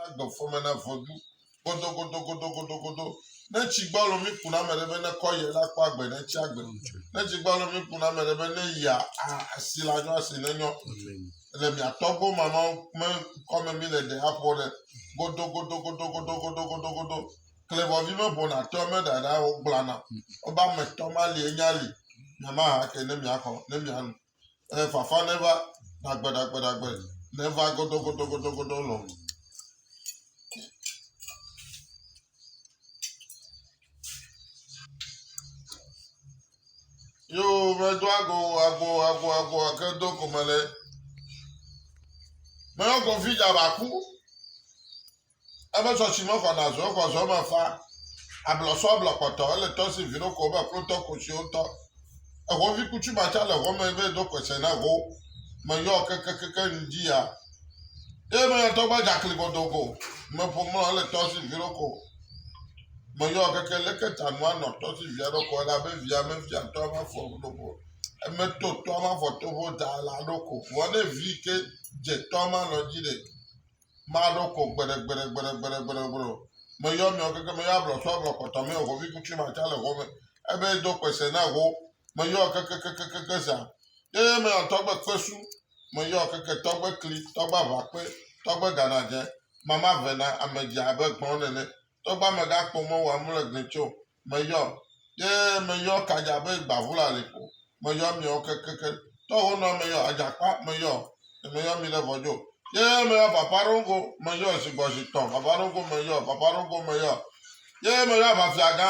Agbe fɔme na vɔdu. Godogodogodogodogodo. Ne tsi gbɔ alo mi kuna ame ɖe be ne kɔ yɛ la kpɔ agbe ne tsi agbe. Ne tsi gbɔ alo mi kuna ame ɖe be ne yia asi la nyɔ asi ne nyɔ. Le mi atɔ gbɔ mama me kɔme mi le ɖe aƒo ɖe. Godogodogodogodogodogodo. Klebɔvi me bona tɔ me ɖaɖa o gblana. Oba me tɔ ma li enya li. Mama ha ke ne mi akɔ ne mi anu. eh, fafa ɖe va ɖagbeɖagbeɖagbe ɖe va gɔdɔgɔdɔgɔdɔgɔdɔ lɔ. Yo medo ago ago ago ago ake do gome le. Meyɔ gɔvi dza ba ku. Ebe sɔ si mexɔ na zɔ exɔ zɔ me fa. Ablɔ sɔ ablɔ kpɔtɔ ele tɔ si vino ko be klotɔ ko siwo tɔ. Exɔ vi kutsu ma tsa le xɔ me be do kpese na xɔ me yɔ keke keke nu dzi ya. Ye me ya tɔ gba dza kli godo go me ƒo mlɔ ele tɔ si vino ko. Me yɔ keke leke ta nua nɔ tɔ si via ɖo ko ele abe via me via tɔ ma fɔ ɖo ko. Eme to tɔ ma fɔ to bo da la ɖo ko. Vɔ ne vi ke dze tɔ ma lɔ dzi de. maɖo ko gbeɖegbeɖegbeɖegbeɖegbeɖegbeɖe o. Meyɔ miɔ keke meyɔ ablɔ sɔ ablɔ kɔtɔ mɛ o hovi kutri ma tsa le ho mɛ. Ebe do kpese na ho. Meyɔ kekekekeke zã. Ye mɛ tɔgbe kpesu. Meyɔ keke tɔgbe kli tɔgbe aʋakpe tɔgbe ganadze. Mama vena amedzi abe gbɔn nene. Tɔgbe amega kpɔ mɔ wa mle gli tso. meyɔ ye meyɔ kadza be gbavula li ko meyɔ miawo kekeke tɔ wo nɔ meyɔ adzakpa meyɔ meyɔ mi le vɔdzo ye meyɔ papa ɖogo meyɔ zigbɔzi tɔ papa ɖogo meyɔ papa ɖogo meyɔ ye meyɔ avafiaga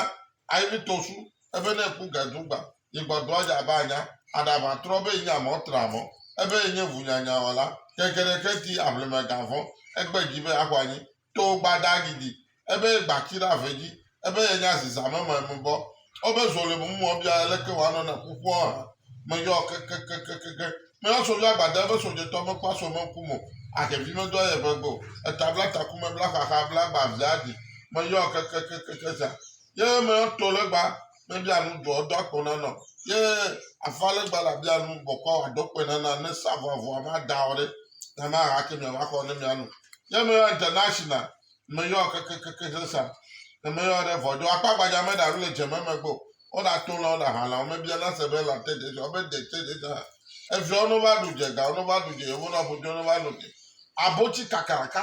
ayi tosu ebe ne ku gedugba yigbɔdo adza ba nya aɖava trɔ be nya mɔ tra mɔ ebe nye ʋunyanyawɔla ke geɖe ke di aʋlimegavɔ egbe dzi be axɔ anyi To gbada gidi, ebe ye gba ki ɖe ave dzi, ebe ye nya zi zame me me bɔ. Ebe zo le mum mɔ bia leke wa nɔ ne ƒuƒua hã me yɔ kekekekekeke. Me yɔ so via gbada ebe so djetɔ me kpa so me ŋku mo. Ahevi me do aye eve gbe o. Eta bla taku me bla xaxa bla gba via di. Me yɔ kekekekekeke za. Ye me yɔ to le gba mebia nu doa eɖo akpɔ nana o ye afa ale gba la bia nu bɔkɔ aɖo kpe nana ne sa vɔ avɔa ma da o ɖe na ma ha ke mia va xɔ ne mia nu ye me ya de na shi na me yɔ keke keke se sa ne me yɔ ɖe vɔ do akpa gbadza me da ru le dze me me gbo o da to la o da ha la o me bia na se be la te de sa o be de te de sa eviawo no va ɖu dze ga o no va ɖu dze o bo na ƒo dze o no va no dze abotsi kakaraka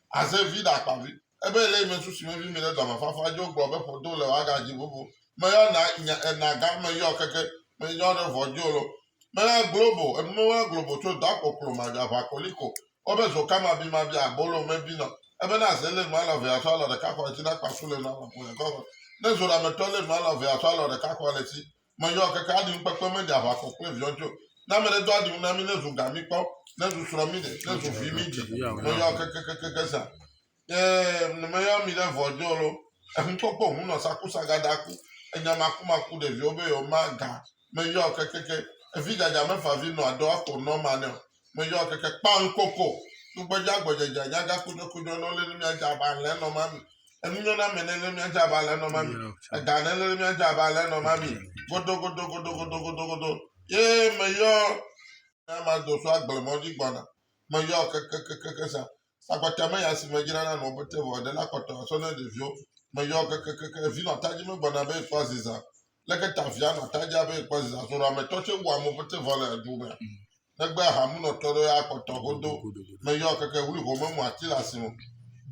Aze vi ɖe akpavi. Ebe ele ime susu me vi mi ɖe dɔme fafa jo gblɔ be ƒodo le waga ji vovo. Me yɔ na nya ena ga me yɔ keke me yɔ ɖe vɔ jo lo. Me yɔ globo enu me yɔ globo tso dɔ akpo klo ma ga va koli ko. O be zo ka ma bi ma bi abolo me bi nɔ. Ebe na ze le nu alɔ ve aso alɔ ɖeka kɔ le ti na kpa su le nu alɔ kpo le kɔ kɔ. Ne zo ɖa me tɔ le nu alɔ ve aso alɔ ɖeka kɔ le ti. meyɔ keke aɖim kpekpe meɖi aʋakɔ kple viɔtso ne ame ɖe do aɖim na mi ne zu ga mi kpɔ ne zu srɔ mi ɖe ne zu vi mi dzi meyɔ keke keke keke sa ee ne meyɔ mi ɖe vɔdzo lo ehukpɔkpɔ hu nɔ sakusa gada ku enya maku maku ɖeviwo be yɔ ma ga meyɔ keke keke evi gada mefa vi nɔ adɔ ako nɔ ma ne o Meyɔ keke kpa ŋkoko. Tugbedze agbɔdzedze nya gã kudɔkudɔ nɔ lele mía dze aba lɛ nɔ ma mi. Enu nyɔ na mɛ ne lele mía dze aba lɛ nɔ ma mi. Ega ne lele mía dze aba lɛ nɔ ma mi. Godo godo godo godo godo godo. Ye meyɔ ne ma do so agble mɔ dzi gbɔna. Meyɔ keke keke keke sa. Sakpata me ya si medzrana nɔ be te vɔ ɖe la kpɔtɔ asɔ ne ɖeviwo. Meyɔ kekekeke vi nɔ atadzi me gbɔna be ekpɔ aziza. Leke ta via nɔ atadzia be ekpɔ aziza so ɖo ame tɔ tse wu ame te vɔ le edu me. Negbe aha mu nɔ tɔ ɖo ya kpɔtɔ godo. Meyɔ keke wuli ho me mu ati le asi mo.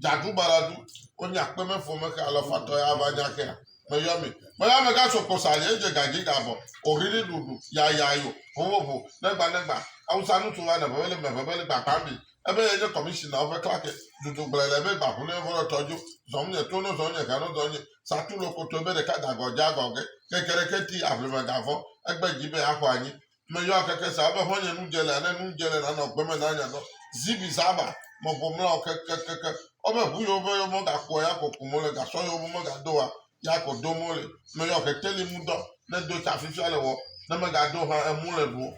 Dzaɖu balaɖu. Wonye akpe me fo me xe alɔ fatɔ ya va nya xea. Meyɔ mi. Meyɔ ame ga so kposa ali edze ga dzi ga bɔ. Ohri ɖi ɖuɖu. Yaya yo. Hohoho. Negba negba. Awusa nu so va ne vebele me vebele gba kpambi. Ebe yenye kɔmishinawo ƒe klake, dudu gblɔe le be ba ʋunɛ vɔ le tɔ dzo, zɔm nye to no zɔm nye ga no dɔ nye, sa tu lokotoe be ɖeka da gɔ dza gɔ ge, keke ɖeke ti aʋlime ga vɔ, egbe dzi be axɔ anyi. Me yɔa keke sa be hɔn nye nu dje le ane nu dje le nanɔ gbe me na nya nɔ, zibi zaba, me vo mla o keke keke ɔbe ʋu yewo be yewo mɔ ga kua ya ko ku mo le ga sɔ yewo be me ga do wa ya ko do mo le. Me yɔ keteli mu dɔ ne do tsa fifia le wɔ ne me ga do hã emu le ɖuo.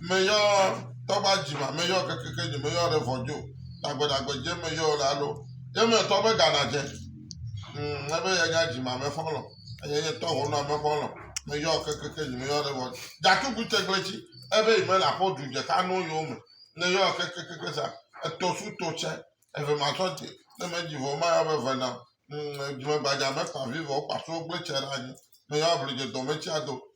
meyɔ tɔgba dzima meyɔ kekeke dzi meyɔ ɖe vɔdzo dagbedagbɛ dze meyɔ le alo ye me tɔ be gana dze na be yenya dzima me fɔlɔ eye ye tɔ hona me fɔlɔ meyɔ kekeke dzi meyɔ ɖe vɔdzo datugu tegble tsi ebe yi me la fɔ du dze ka no yo me ne yɔ kekeke sa etɔ su tɔ tse eve ma tɔ dze ne me dzi vɔ ma yɔ be vena dzime gbadza me kpa vi vɔ kpa so gbe tse ɖe anyi meyɔ blu dze dɔ me tsi ado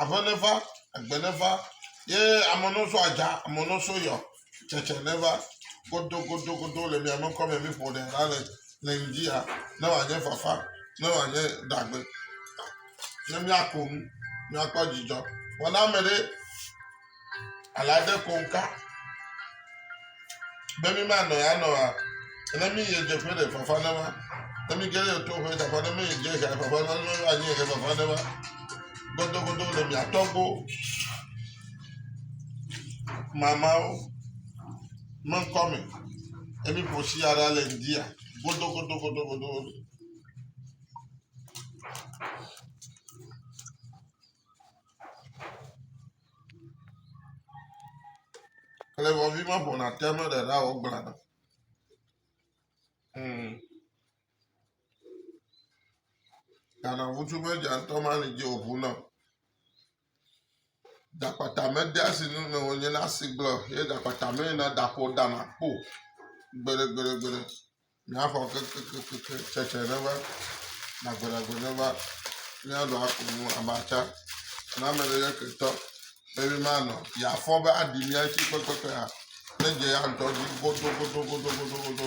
Ave neva, egbe neva, ye ame no so adza, ame no so yɔ, tsetse neva. Godo, godo, godo le mia me kɔ me mi ƒo ɖe la le le ŋdi ya. Ne wa nye fafa, ne wa nye dagbe. Ne mia ko nu, mia kpɔ dzidzɔ. Wɔna me ɖe Ale ade konka be mi ma nɔ ya nɔ wa. Ne mi yie dze ƒe ɖe fafa ne wa. Ne mi gele to ƒe fafa ne mi dze xa fafa ne mi va nyi ke fafa ne wa. Godogodo le mi atɔgbo. Mamawo me ŋkɔ me. Emi ƒo si ara le ndia. Godogodo godogodo. Klevɔvi me ƒona te me ɖe ɖa o gbla. Hmm. Ghana ŋutsu me dza ŋutɔ ma li dzi òʋu na. Dakpata me de asi nu me wònye na asi gblɔ ye dakpata me na daƒo dana kpo. Gbere gbere gbere. Míaxɔ kekekeke tsetse neva, nagbenagbe neva, míaɖu aku nu amatsa na ame ɖe nye ketɔ be mímanɔ yeafɔ be aɖi mía ŋuti kpekpekpea, nedze ya ŋutɔ dzi godogodogodogodo.